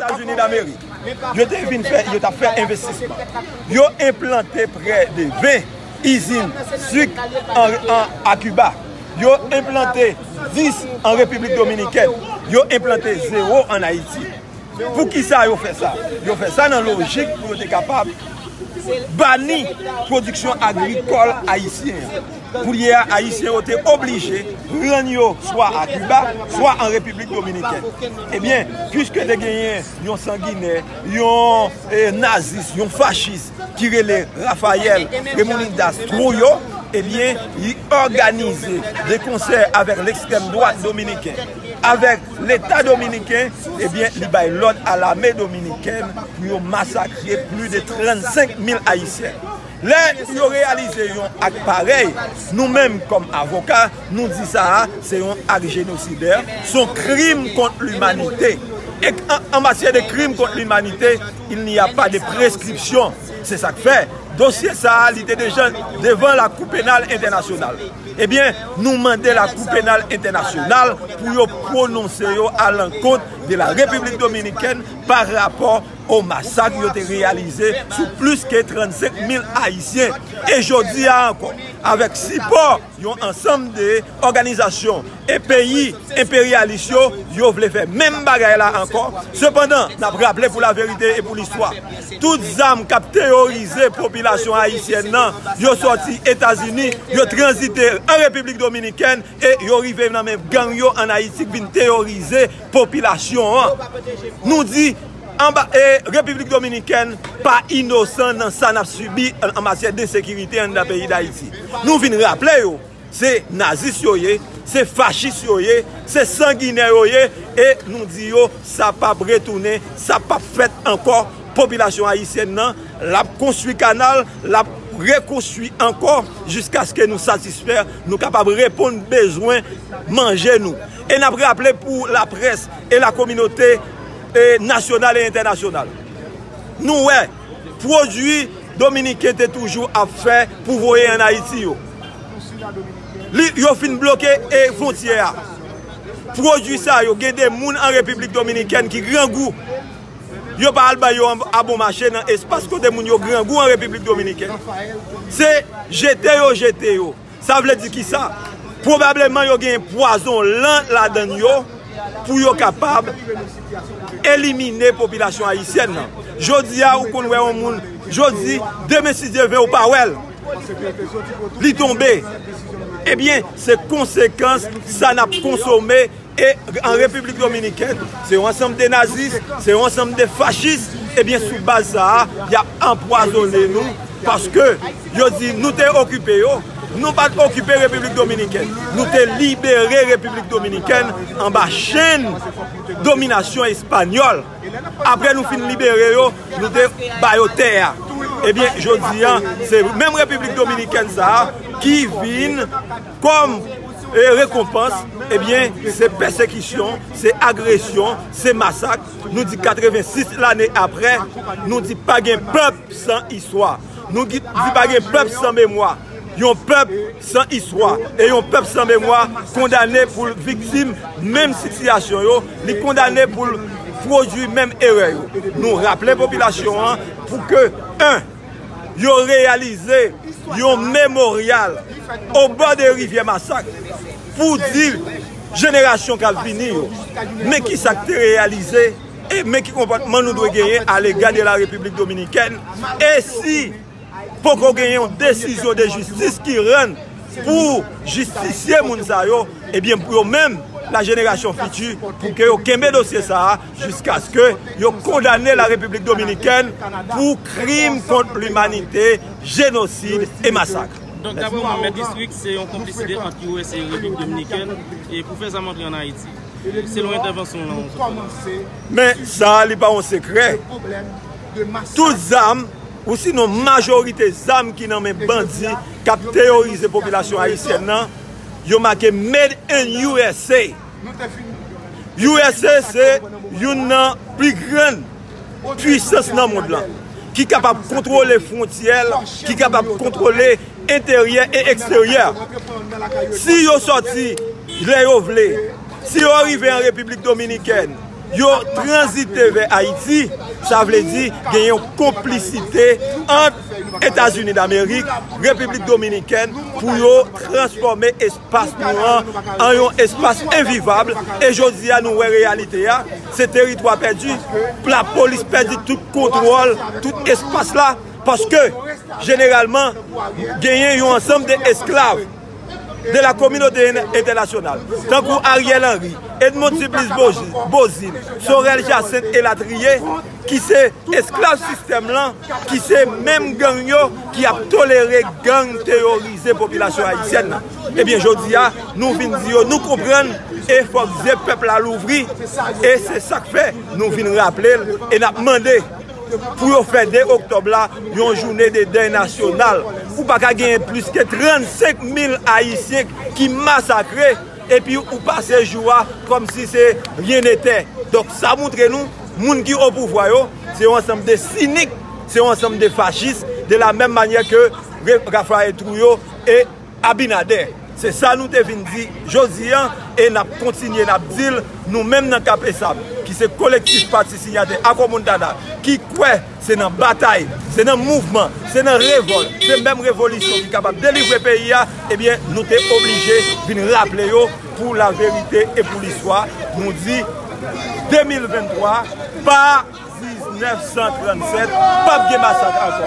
Etazini Damerik yo te vin fè, yo t ap fè envestisman. Yo enplante prè de 20 izin suk a Kiba. Yo enplante 10 an Repiblik Dominikèn. Yo enplante zewo an Ayiti. Poukisa yo fè sa? Yo fè sa nan lojik pou yo te kapab bani pwodiksyon agrikòl ayisyen an. Koulye a, Ayisyen yo te oblije rann yo swa a Kiba, swa an Repiblik Dominikèn. Ebyen, piske te genyen yon sanginè, yon nazis, yon fachis ki rele Rafayèl Remonindas Twoyo, ebyen, li òganize de konsè avèk lekstrèm dwat dominiken, avèk. Leta dominiken ebyen li bay lòd a lame dominikèn pou yo masakre pli de 35 mil ayisyen. Lè yo reyalize yon ak parèy, nou menm kòm avoka, nou di sa a se yon ak jenosidè, son krim kont limanite. E an matyè de krim kont limanite, il n'y a pas de prescription. Se sa k fè, dosye sa a li te deja devan lakou penal entènasyonal. Ebyen, nou mande Lakou Penal Entènasyonal pou yo pwononse yo a lankont de la Repiblik Dominikèn pa rapò o masak yo te reyalize sou plis ke 35 mil Ayisyen. E jodi a ankò, avèk sipò yon ansanm de òganizasyon, E peyi enperyalis yo, yo vle fè menm bagay la ankò. Sepandan, n ap raple pou laverite e pou listwa, tout zam k ap teyorize popilasyon ayisyèn nan, yo sòti Etazini, yo tranzite an Repiblik Dominikèn e yo rive nan men gang yo an Ayiti k vin teyorize popilasyon an. Nou di, Repiblik Dominikèn pa inosan nan sa n ap sibi an matyè densekirite anndan peyi Dayiti. Nou vin raple yo. Se nazis yo ye, se fachis yo ye, se sanginè yo ye e nou di yo sa pap retounen, sa pap fèt ankò. Popilasyon ayisyèn nan l ap konstwi kanal, l ap rekonstwi ankò jiskaske nou satisfè, nou kapab reponn bezwen manje nou. E n ap raple pou laprès e lakominote nasyonal e entènasyonal, nou wè. pwodui dominiken te toujou ap fè pou voye an Ayiti yo. Yo fin bloke e fontyè a. Pwodui sa yo gen de moun an Repiblik Dominikèn ki grangou. Yo pa al bay yo a bon mache nan espas kote moun yo grangou an Repiblik Dominikèn. Se jete yo jete yo. Sa vle di ki sa? Pwobableman yo gen pwazon lan ladan yo pou yo kapab elimine popilasyon Ayisyèn nan. Jodi a ou konn wè yon moun jodi, demen si Dye vle ou pa wè l. Li tonbe. Ebyen se konsekans sa nap konsome. E an Repiblik Dominikèn, se yon ansanm de nazis, se yon ansanm de fachis, ebyen sou baz sa a, y ap anpwazonnen nou, paske yo di nou te okipe yo, nou pa t okipe Repiblik Dominikèn, nou te libere Repiblik Dominikèn anba chenn dominasyon espanyòl, apre nou fin libere yo, nou te ba yo tè a, ebyen jodi a, se menm Repiblik Dominikèn sa a, ki vin. Kòm rekonpans, ebyen, se pèsekisyon, se agresyon, se masak, nou di 86 lane aprè, nou di pa gen pèp san istwa, nou di pa gen pèp san memwa, yon pèp san istwa, e yon pèp san memwa kondane pou l viktim menm sitiyasyon yo, li kondane pou l pwodui menm erè yo. Nou raple popilasyon an pou ke 1. yo reyalize yon memoryal o bò de rivyè Masak pou di jenerasyon kap vini yo men ki sa k te reyalize e men ki konpòtman nou dwe genyen alega de la Repiblik Dominikèn e si poko gen yon desizyon de jistis ki rann pou jistisye moun sa yo ebyen pou yo menm la jenerasyon fiti pou ke yo kenbe dosye sa a. jiskaske yo kondane la Repiblik Dominikèn pou krim kont limanite, jenosid e masak. Donk daprè ou Mèt District se yon konplisite ant usa e Repiblik Dominikèn pou fè zam antre an Ayiti, selon entèvansyon w lan ou sot fè la. Men sa li pa yon sekrè, tout zam ou sinon majorite zam ki nan men bandi k ap teyorize popilasyon ayisyèn nan, yo make Made in usa. Usa se youn nan pi gran pwisans nan mond lan, ki kapab kontwole fwontyè l, ki kapab kontwole enteryè e eksteryè. Si yo sòti lè yo vle, si yo rive an Repiblik Dominikèn, yo tranzite vè Ayiti, sa vle di gen yon konplisite ant Etazini Damerik, Repiblik Dominikèn pou yo transfòme espas. Espas nou an an yon espas envivab e jodi a nou wè reyalite a, se teritwa pèdi, lapolis pèdi tout kontwòl tout espas la paske jeneralman genyen yon ansanm de esklav de la kominote entènasyonal tankou Ariel Henry, Edmond Supplice Beauzile, Sorel Jacinthe elatriye. ki se esklav sistèm lan, ki se menm gang yo ki ap tolere gang teyorize popilasyon ayisyèn nan. Ebyen jodi a, nou vin di yo nou konprann e fòk zye pèp la louvri e se sak fè nou vin raple l e n ap mande pou yo fè 2 oktòb la yon joune de dèy nasyonal pou pa ka genyen plis ke 35 mil ayisyen ki masakre. Epi ou pase jou a kòm si se rien n'était. Donk sa moutre nou moun ki o pouvwa yo se yon ansanm de sinik, se yon ansanm de fachis de la menm manyè ke Raphaël Trouillot e Abinader. Se sa nou te vin di jodi a e n ap kontinye n ap di l nou menm nan Kap Esab ki se kolektif pati sinyatè Akò Montana ki kwè Se nan batay, se nan mouvman, se nan revòl, se menm revolisyon ki kapab delivre peyi a, ebyen nou te oblije vin raple yo pou laverite e pou listwa, nou di 2023 pa 1937 pap gen masak ankò.